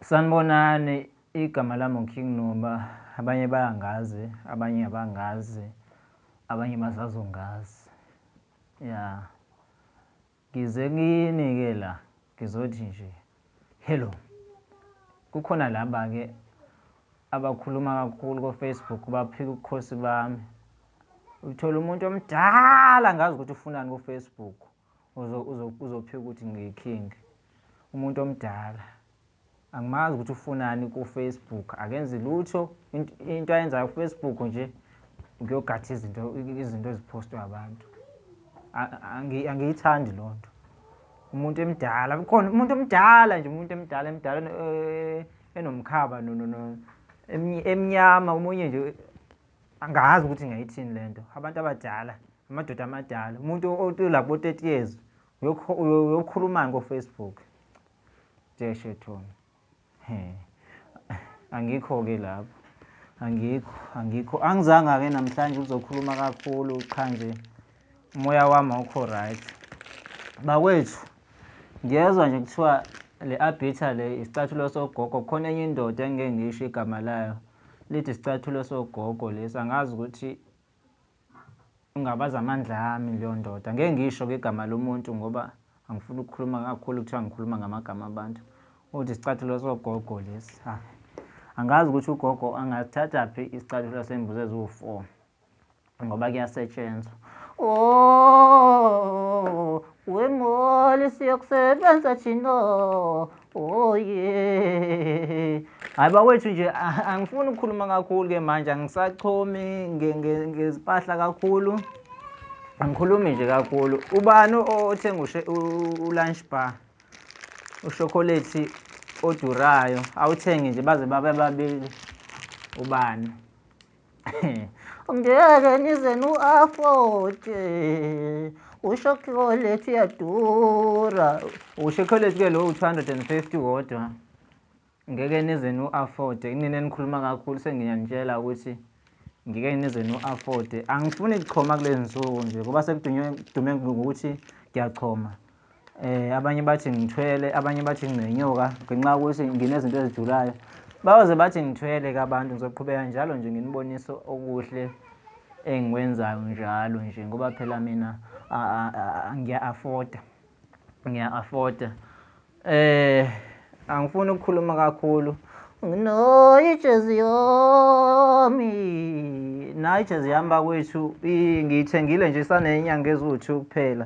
Sanibonani igama lami uKing Nuba abanye bayangazi abanye abangazi abanye basazongazi ya ngize kini ke la ngizothi nje hello kukhona laba ke abakhuluma kakhulu ko Facebook baphika ukukhosi bami uthola umuntu omdala ngazi ukuthi ufunani ku Facebook uzophika ukuthi ngiyi king umuntu omdala angimazi ukuthi ufunani ku Facebook akenzi lutho into ayenzayo ku Facebook nje ngiyogatha izinto izinto ezipostwa abantu angiyithandi loo nto umuntu emdala khona umuntu omdala nje umuntu emdala emdala eh, enomkhaba emnyama omunye nje Angazi ukuthi ngayithini le nto. Abantu abadala, amadoda amadala, umuntu olabo 30 years uyokhulumani koFacebook? Nje shethoni. He. Angikho-ke lapho. Angikho, angikho. Angizanga-ke namhlanje ukuzokhuluma kakhulu qha nje. umoya wami awukho right bakwethu ngiyezwa nje kuthiwa le abhitha le isicathulo sogogo khona enye indoda engike ngisho igama layo lithi isicathulo sogogo lesi angazi ukuthi ungabaza amandla ami leyo ndoda ngeke ngisho ke igama lomuntu ngoba angifuni ukukhuluma kakhulu kuthiwa ngikhuluma ngamagama abantu uthi isicathulo sogogo lesi angazi ukuthi ugogo angathatha phi isicathulo sembuzi eziwu-four ngoba kuyasetshenzwa oh wemoli siyokusebenza thina oh yeah hayi bawethu nje angifuni ukukhuluma kakhulu ke manje angisachomi ngezimpahla kakhulu angikhulumi nje kakhulu ubani othenga u-lunch bar ushokolate odurayo awuthenge nje baze babe babili ubani ngeke nize nu-afote ushokholethi yadura ushokholethi ke lo u-250 wodwa ngeke nize nu-afote kunina nikhuluma kakhulu sengiyanitshela ukuthi ngike nize nu-afote angifuni kuchoma kulezi nsuku nje ngoba sekudume ngokuthi ngiyachoma eh abanye bathi ngithwele abanye bathi nginenyoka ngenxa ukuthi nginezinto ezijulayo bayoze bathi ngithwele ke abantu ngizoqhubeka njalo nje nginibonise okuhle engikwenzayo njalo nje ngoba phela mina ngiya-afforda ngiya-afforda eh angifuni ukukhuluma kakhulu no ijezi yomi nayo ijezi yami bakwethu ngiyithengile nje isanenyanga eziwu-two kuphela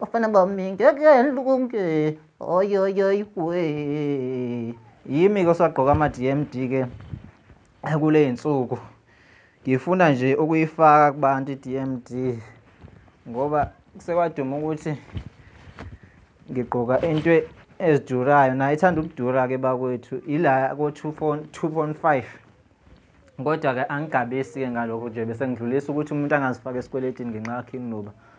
bafana bami ngeke nilunge oyoyoy we yimi ke osagqoka ama-dmd ke kule y'nsuku ngifuna nje ukuyifaka kubantu i-dmd ngoba sekwaduma ukuthi ngigqoka into ezidurayo naye ithanda ukudura-ke bakwethu ila ko-2.5 kodwa-ke angigabisi-ke ngalokho nje bese ngidlulisa ukuthi umuntu angazifaka esikweletini ngenxa yakhe inginoba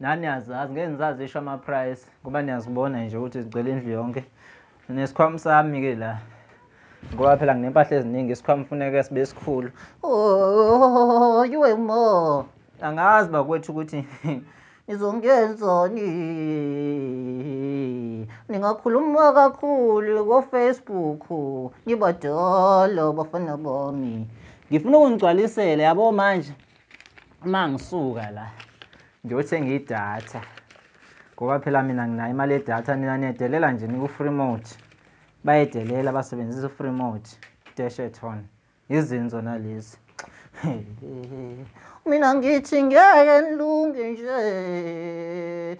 Nani azazi ngeke ngisazisho ama price ngoba niyazibona nje ukuthi zigcwele indlu yonke. Nesikhwama sami ke la. Ngoba phela nginempahla eziningi isikhwama kufuneka sibe sikhulu. Oh, you are more. Angazi bakwethu ukuthi nizongenzani ningakhuluma kakhulu kofacebook nibadala bafana bami ngifuna ukungigcwalisela yabo manje Uma ngisuka la ngiyothenga idatha ngoba phela mina nginayo imali yedatha nina niyedelela nje niku-free mode bayedelela basebenzisa u-free mode desheton yizinzo nalezi mina ngithi ngeke nilunge nje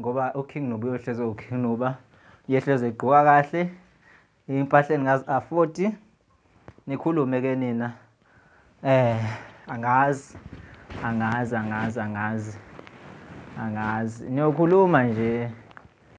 ngoba uking nuba uyohlezi uking nuba uyehlezi egqoka kahle impahla eningaz-afodi nikhulume ke nina eh angazi angazi angazi angazi angazi niyokhuluma nje